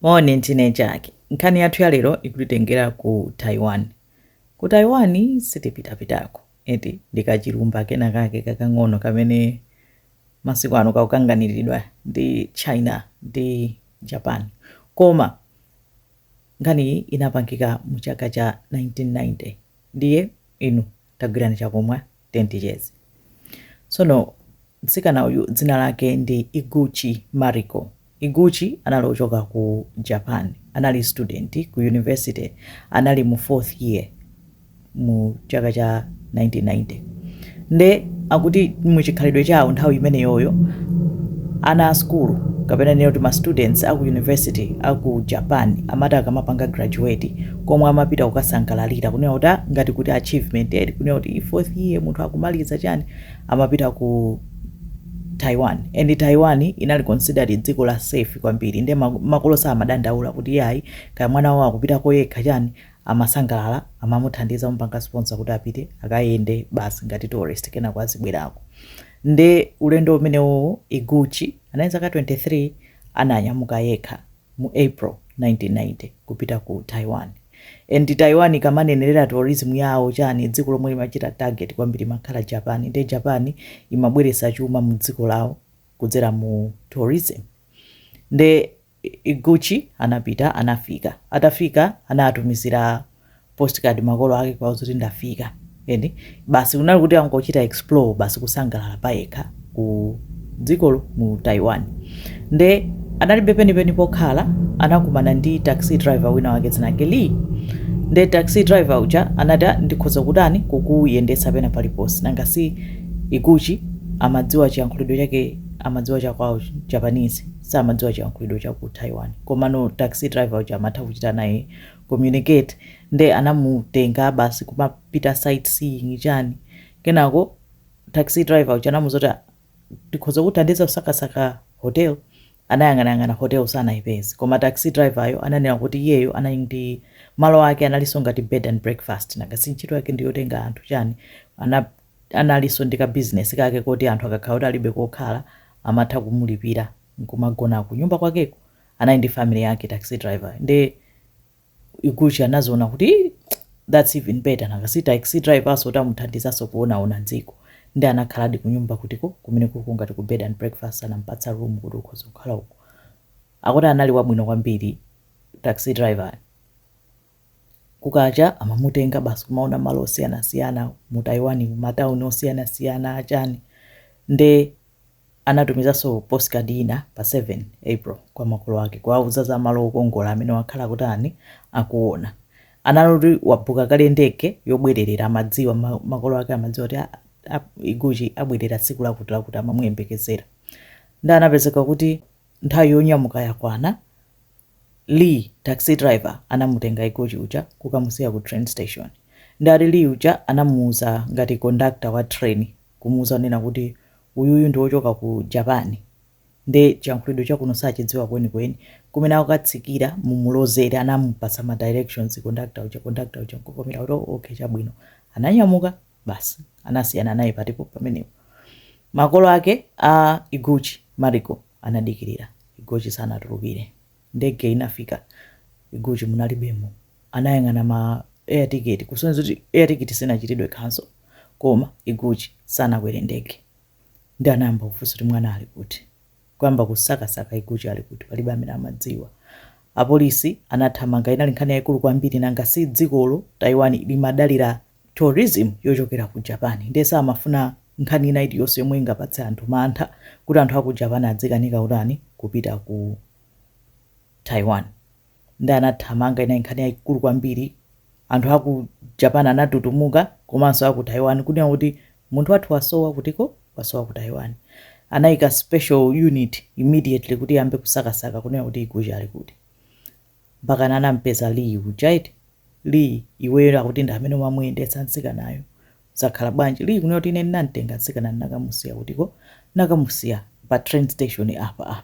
Moni ntine chake. Nkhani yathu ya lero ikutitengera ku Taiwan. Ku Taiwan sitipitapitako, eti, ndi kachilumba kenakake kakang'ono kamene masiku ano kakukanganiridwa ndi China ndi Japan. Koma nkhaniyi inapangika mu chaka cha 1990. Ndiye inu tagwirani chakumwa ticheze. Tsono mtsikana uyu dzina lake ndi Iguchi Mariko. Iguchi anali ochoka ku Japan, anali student ku university, anali mu fourth year mu chaka cha 1990 nde akuti muchikhalidwe chawo nthawi imeneyoyo ana a skulu kapena nena kuti ma students aku university aku Japan amati akamapanga graduate komwe amapita kukasangalalira kunena kuti ah, ngati kuti achievement eti kunena kuti fourth year munthu akumaliza chani amapita ku taiwan and taiwan inali considered dziko la safe kwambiri nde ma- makolo samadandaula kuti yayi kaya mwana wawo akupita koyekha chani amasangalala amamuthandiza kumpanga sponsor kuti apite akayende basi ngati tourist kenako azibwerako nde ulendo umenewowo iguchi anali zaka 23 ananyamuka yekha mu April 1990 kupita ku Taiwan and Taiwan ikamanenerera tourism yawo chani dziko lomwe limachita target kwambiri imakhala Japan nde Japan imabweretsa chuma mu dziko lawo kudzera mu tourism nde Iguchi anapita anafika atafika anatumizira postcard makolo ake kuwauza kuti ndafika and basi kunali kuti angochita explore basi kusangalala payekha ku dzikolo mu taiwan nde analibe penipeni pokhala anakumana ndi taxi driver wina wake dzina lake lee nde taxi driver uja anati "Ah, ndikhoza kumakuyendetsa pena paliponse nanga si iguchi amadziwa chiyankhulidwe chake amadziwa chakwawo japanese samadziwa chiyankhulidwe cha ku taiwan komano taxi driver uja amatha kuchita naye communicate nde anamutenga basi kumapita sight seeing chani kenako taxi driver uja anamuuza kuti "Ah, ndikhoza kukuthandiza kusakasaka hotel anayang'anayang'ana hotel sanaipeze koma taxi driver-yo ananena kuti iyeyo anali ndi malo ake analinso ngati bed and breakfast nanga si ntchito yake ndi yotenga anthu chani ana analinso ndi ka business kake koti anthu akakhala kuti alibe kokhala amatha kumulipira nkumagona ku nyumba kwakeko anali ndi family yake taxi driver nde iguchi anaziona kuti that's even better nanga si taxi driver azathanso kumuthandizaso kuonaona m'dziko nde anakhaladi kunyumba kutiko kumenekuko ngati ku bed and breakfast anampatsa room kuti ukhoza kukhala uko akuti anali wabwino kwambiri taxi driver Kukacha amamutenga basi kumaona malo osiyanasiyana mu Taiwan mu matauni osiyanasiyana achani nde anatumizanso postcard ina pa 7 April kwa makolo ake kuwauza za malo okongola amene wakhala kutani akuona analoti wabooka kale ndege yobwererera amadziwa ma- makolo ake amadziwa kuti a- a- iguchi abwerera tsiku lakuti lakuti amamuyembekezera nde anapezeka kuti nthawi yonyamuka yakwana Lee, taxi driver, anamutenga Iguchi uja kukamusiya ku train station. Nde ati Lee uja anamuuza ngati conductor wa train kumuuza kunena kuti uyuyu ndi wochoka ku Japan nde chiyankhulidwe cha kuno sachidziwa kwenikweni. Kumene akatsikira mumulozere anamupatsa ma directions conductor uja. Conductor uja nkuvomera kuti okay chabwino. Ananyamuka. Basi anasiyana naye patipo pamenepo. Makolo ake a Iguchi, Mariko, anadikirira. Iguchi sanatulukire. Ndege inafika. Iguchi munalibemo. Anayang'ana ma air ticket kusonyeza kuti air ticket sinachitidwe cancel. Koma Iguchi sanakwere ndege. Nde anayamba kufunsa kuti mwana ali kuti. kuyamba kusakasaka iguchi ali kuti palibe amene amadziwa. Apolisi anathamanga inali nkhani yaikulu kwambiri nanga si dzikolo Taiwan limadalira tourism yochokera ku Japan nde samafuna nkhani ina iliyonse yomwe ingapatse anthu mantha kuti anthu a ku Japan adzikanika kutani kupita ku Taiwan. nde anathamanga inali nkhani yaikulu kwambiri anthu aku japan anatutumuka komanso aku taiwan kunena kuti munthu wathu wasowa kutiko wasowa ku taiwan anaika special unit immediately kuti iyambe kusakasaka kunena kuti iguchi ali kuti mpakana anampeza lee uja eti lee iweyo akuti ndiwe amene umamuyendetsa mtsikanayo zakhala bwanji Lee kunena kuti ine ndinamtenga mtsikana ndinakamusiya kutiko ndinakamusiya pa train station apa apa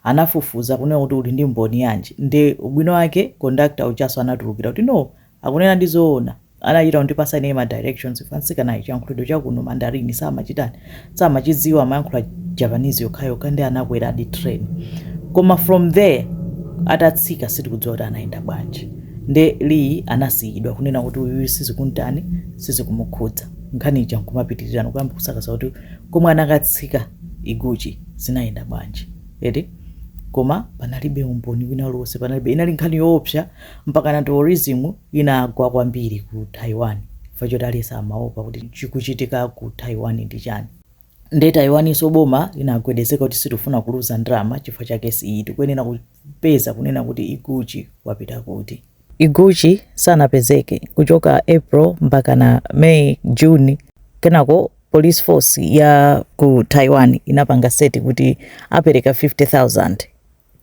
anafufuza kunena kuti uli ndi mboni yanji nde ubwino wake conductor ujaso anatulukira kuti no akunenadi zoona anachita kundipasa ineyo ma directions chifukwa mtsikanayo chiyankhulo chakuno Mandarin samachitani samachidziwa amayankhula Japanese yokhayokha nde anakweradi train koma from there atatsika sitikudziwa kuti anayenda bwanji nde Lee anasiyidwa kunena kuti uyuyu sizikuntani sizikumukhudza nkhani ija nkumapitirira nkuyamba kusakasaka kuti komwe anakatsika Iguchi zinayenda bwanji eti koma panalibe umboni wina uliwonse panalibe inali nkhani yoopsa Mpakana tourism inagwa kwambiri ku Taiwan chifukwa choti aliyense amaopa kuti chikuchitika ku Taiwan ndi chani. Nde Taiwaninso boma inagwedezeka kuti sitikufuna kuluza ndalama chifukwa cha case iyi, tikuyenera kupeza kunena kuti Iguchi wapita kuti. Iguchi sanapezeke kuchoka April mpakana May, June, kenako police force ya ku Taiwan inapanga set kuti apereka 50,000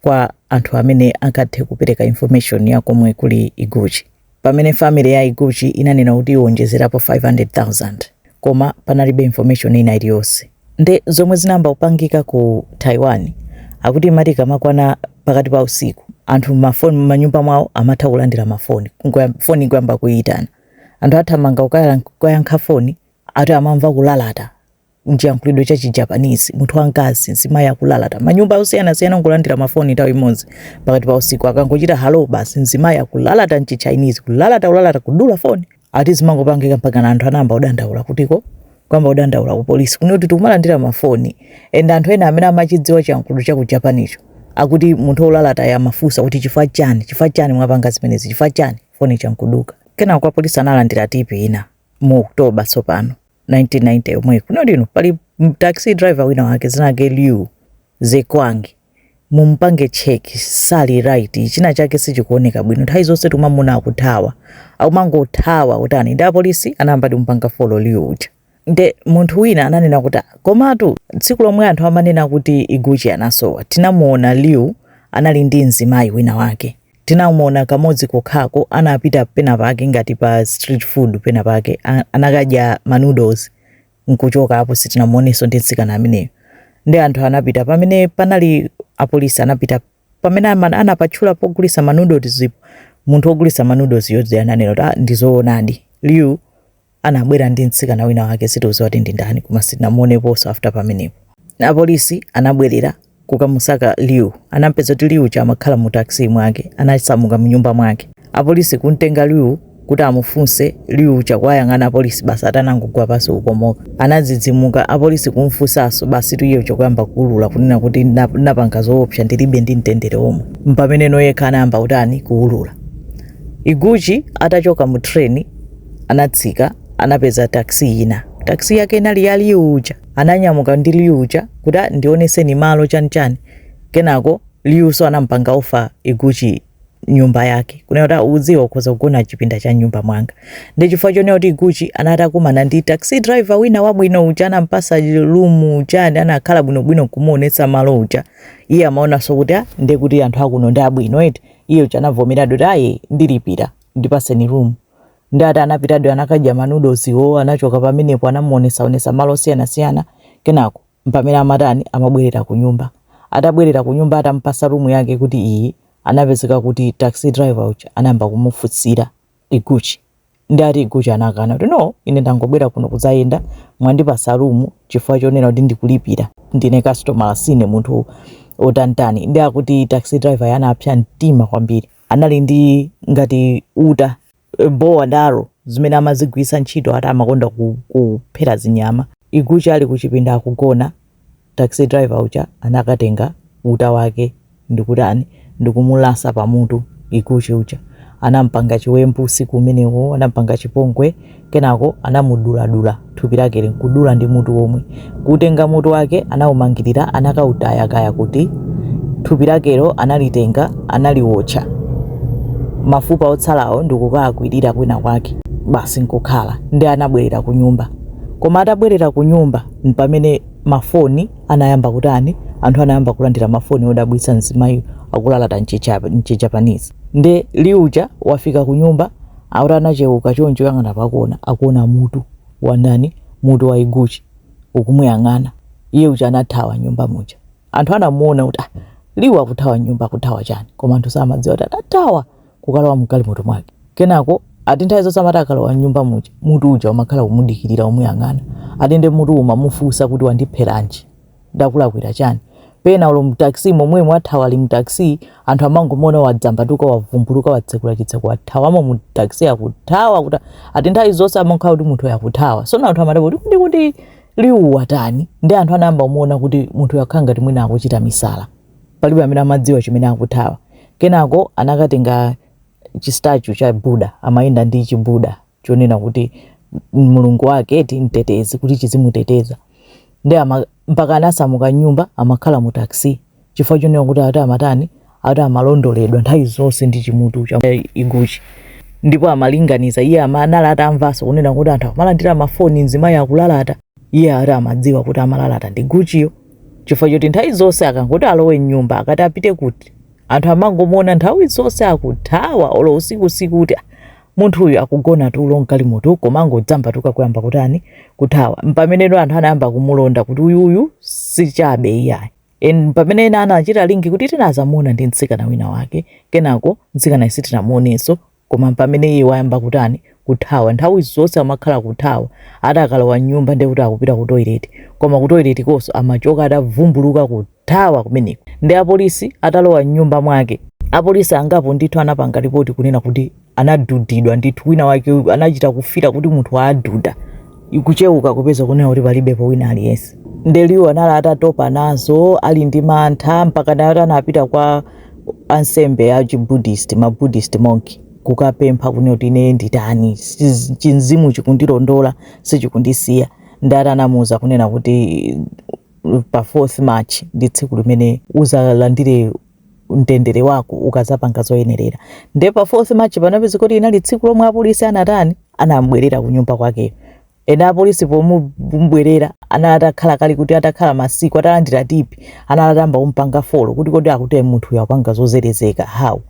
kwa anthu amene angathe kupereka information ya komwe kuli Iguchi. Pamene family ya Iguchi inanena kuti iwonjezerapo 500,000 koma panalibe information ina iliyonse. Nde zomwe zinayamba kupangika ku Taiwan akuti imati ikamakwana pakati pa usiku anthu mafoni mmanyumba mwawo amatha kulandira mafoni Ngoya- foni ikuyamba kuyitana anthu athamanga kukayala- kukayankha foni ati amamva kulalata mchiyankhulidwe cha chijapanese munthu wamkazi mzimayi akulalata manyumba osiyanasiyana nkulandira mafoni nthawi imodzi pakati pa usiku akangochita halo basi mzimayi akulalata mchichinese kulalata kulalata kudula foni ati zimangopangika mpakana anthu anayamba kudandaula kutiko kuyamba kudandaula ku polisi kunena kuti tikumalandira mafoni and anthu ena amene amachidziwa chiyankhulo cha ku Japan-cho akuti munthu olalatayo amafunsa kuti chifukwa chani chifukwa chani mwapanga zimenezi chifukwa chani foni ija nkuduka kenako apolisi analandira tipi ina mu oktoba tsopano 1990 yomwe kunali inoyo pali taxi driver wina wake dzina lake liu zekwangi mumpange cheki sali right china chake sichikuoneka bwino nthawi zonse timamuona akuthawa akumangothawa kutani nde apolisi anayamba kumpanga folo liu uja nde munthu wina ananena kuti komatu tsiku lomwe anthu amanena kuti iguchi anasowa tinamuona liu anali ndi mzimayi wina wake Tinamuona kamodzi kokhako anapita penapake ngati pa street food penapake a- anakadya ma noodles nkuchoka apo sitinamuonenso ndi mtsikana ameneyo. Nde anthu anapita pamene panali apolisi anapita pamene ama- anapatchula pogulisa ma noodles ipo munthu ogulisa ma noodles uja ananena kuti "Ah, ndizoonadi. Liu Anabwera ndi mtsikana wina wake sitikudziwa kuti ndi ndani koma sitinamuoneponso after pamenepo. Apolisi anabwerera kukamusaka Liu. Anampeza kuti Liu uja amakhala mu taxi mwake. Anasamuka mnyumba mwake. Apolisi kumtenga Liu kuti amufunse, Liu uja kuwayang'ana apolisi basi atanangogwa pansi kukomoka. Anadzidzimuka apolisi kumfunsanso basitu iye uja kuyamba kuulula kunena kuti "Ndina- ndinapanga zoopsa ndilibe ndi mtendere omwe. Mpameneno yekha anayamba kutani kuulula. Iguchi atachoka mu train anatsika anapeza taxi ina taxi yake inali ya liu uja ananyamuka ndi liu uja kuti "Ah, ndioneseni malo chanichani kenako liunso anampanga offer iguchi nyumba yake kunena kuti "Ah, udziwa ukhoza kugona chipinda cha nyumba mwanga ndi chifukwa chonena kuti iguchi anati wakumana ndi taxi driver wina wabwino uja anampasa room uja nde anakhala bwinobwino kumuonetsa malo uja iye amaonanso kuti "Ah, ndiye kuti anthu akuno ndi abwino eti iye uja anavomeradi kuti ayi ndilipira ndipaseni room ndi ati anapitadi anakadya manoodleswo anachoka pamenepo anamuonesaonesa mmalo osiyanasiyana kenako mpamene amatani amabwerera ku nyumba atabwerera ku nyumba atamupasa rumu yake kuti iyi anapezeka kuti taxi driver uja anayamba kumufunsira iguchi ndi ati iguchi anakana kuti no ine ndangobwera kuno kudzayenda mwandipasa rumu chifukwa chonena kuti ndikulipira ndine customer sine munthu otanitani ndi akuti taxi driver anapsa mtima kwambiri anali ndi ngati uta, a bow and arrow, zimene amazigwitsa ntchito ati amakonda kuphera zinyama. Iguchi ali kuchipinda akugona, taxi driver uja anakatenga uta wake ndikutani ndikumulasa pamutu Iguchi uja. Anampanga chiwembu usiku umenewo, anampanga chipongwe Kenako anamuduladula thupi lakeli nkudula ndi mutu omwe. Kuutenga mutu wake anaumangirira anakautaya kaya kuti. Thupi lakelo analitenga analiwotcha. Mafupa otsalawo ndikukaakwirira kwina kwake. Basi nkukhala. Ndiye anabwerera kunyumba. Koma atabwerera kunyumba mpamene mafoni anayamba kutani, anthu anayamba kulandira mafoni odabwitsa mzimayi akulalata mchiCha mchiJapanese. Ndiye Liu uja wafika kunyumba Akuti anacheuka choncho kuyang'ana pakona akuona mutu wa ndani? Mutu wa Iguchi ukumuyang'ana. Iye uja anathawa m'nyumba muja. Anthu anamuona kuti, ah, Liu akuthawa m'nyumba, akuthawa chani? Koma anthu samadziwa kuti atathawa kukalowa m'galimoto mwake. Kenako ati nthawi zonse amati akalowa m'nyumba muja, mutu uja umakhala kumudikirira, ukumuyang'ana. Ati nde mutuwo umamufunsa kuti, Wandipheranji? ndakulakwira chani? Pena olo mu taxi momwemo wathawa ali mu taxi anthu amangomuona wadzambatuka wavumbuluka watsekula chitseko wathawamo mu taxi akuthawa kuti ati nthawi zonse amakhala kuti munthu uyu akuthawa sono anthu amadabwa kuti kuti kuti liu watani ndi anthu anayamba kumuona kuti munthu uyu akhala ngati mwina akuchita misala palibe amene amadziwa chimene akuthawa kenako anakatenga chistatue cha buddha amayenda ndi chibuddha chonena kuti m- mulungu wake eti mtetezi kuti chizimuteteza ndi ama- mpaka anasamuka nyumba amakhala mu taxi chifukwa chonena kuti ati amatani ati amalondoledwa nthawi zonse ndi chimutu cha eh, iguchi ndipo amalinganiza iye ama- anali atamvanso kunena kuti anthu amalandira mafoni mzimayi akulalata iye ati amadziwa kuti amalalata ndi iguchiyo chifukwa choti nthawi zonse akangoti alowe mnyumba akati apite kuti anthu amangomuona nthawi zonse akuthawa olo usiku usiku kuti "Ah, munthu uyu akugona tulo mgalimoto koma nkungodzambatuka kuyamba kutani kuthawa mpameneno anthu anayamba kumulonda kuti uyuyu sichabe iyayi ndi pamene ena anachita link kuti tinazamuona ndi mtsikana wina wake kenako mtsikanayo sitinamuonenso koma pamene iye wayamba kutani kuthawa nthawi zonse amakhala kuthawa ati akalowa nyumba ndekuti akupita ku toilet koma ku toilet konso amachoka atavumbuluka kuti Thawa kumeneko. Ndi apolisi atalowa m'nyumba mwake. Apolisi angapo ndithu anapanga lipoti kunena kuti anadudidwa ndithu, wina wake anachita kufila kuti munthu wawaduda. Kucheuka kupeza kunena kuti palibepo wina aliyense. Nde Liu anali atatopa nazo, ali ndi mantha, mpaka naye kuti anapita kwa ansembe a chi Buddhist, ma Buddhist monk, kukapempha kunena kuti ine nditani, chimzimu chikundilondola, sichikundisiya. Nde ati anamuuza kunena kuti. pa 4th March ndi tsiku limene uzalandire mtendere wako ukazapanga zoyenerera nde pa 4th March panapezeka kuti inali tsiku lomwe apolisi anatani anambwerera kunyumba kwake. Ena apolisi pomubwerera anali atakhala kali kuti atakhala masiku atalandira tipi anali atayamba kumpanga folo kuti kodi akuti munthu uyu akupanga zozerezeka how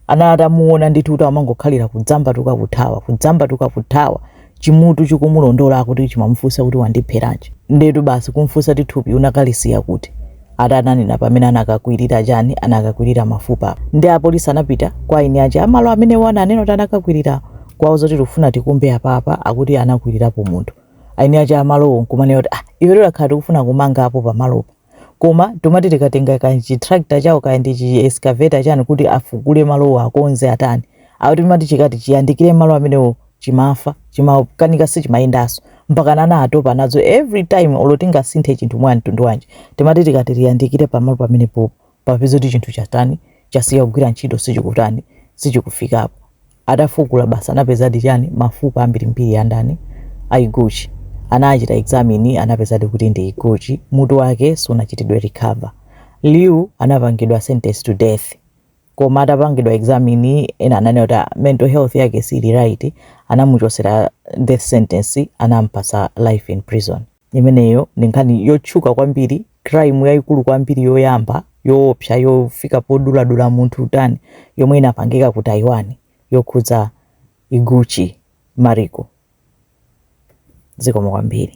anali atamuona ndithu kuti amangokhalira kudzambatuka kuthawa kudzambatuka kuthawa chimutu chikumulondola akuti chimamufunsa kuti wandipheranji ndetu basi kumfunsa kuti thupi unakalisiya kuti ati ananena pamene anakakwirira chani anakakwirira mafupa apa nde apolisi anapita kwa eni aja a malo amene iwo ananena kuti anakakwirira kuwauza zoti tikufuna tikumbe apapa akuti anakwirirapo munthu eni aja a malowo nkumanena kuti ah iwe takhala tikufuna kumanga apo pamalopo Koma timati tikatenga ka chi tractor chawo kaya ndi chi excavator chani kuti afukule malowo akonze atani. Akuti chimati chikati chiyandikire malo amenewo chimafa, chimakanika sichimayendanso. Mpakana anatopa nazo every time olo tingasinthe chinthu mwa mtundu wanji. Timati tikati tiyandikire pamalo pamenepopo. Kupeza kuti chinthu chatani, chasiya kugwira ntchito sichikutani, sichikufikapo. Atafukula basi anapezadi chani mafupa ambirimbiri a ndani? A Iguchi. Anachita examine anapezadi kuti ndi Iguchi, mutu wake sunachitidwe recover. Liu anapangidwa sentence to death. Koma atapangidwa examine ena ananena kuti ah, mental health yake siili right, anamuchosera death sentence anampasa life in prison. Imeneyo ndi nkhani yotchuka kwambiri, crime yayikulu kwambiri yoyamba yoopsa yofika poduladula munthu kutani yomwe inapangika ku Taiwan yokhudza Iguchi Mariko. Zikomo kwambiri.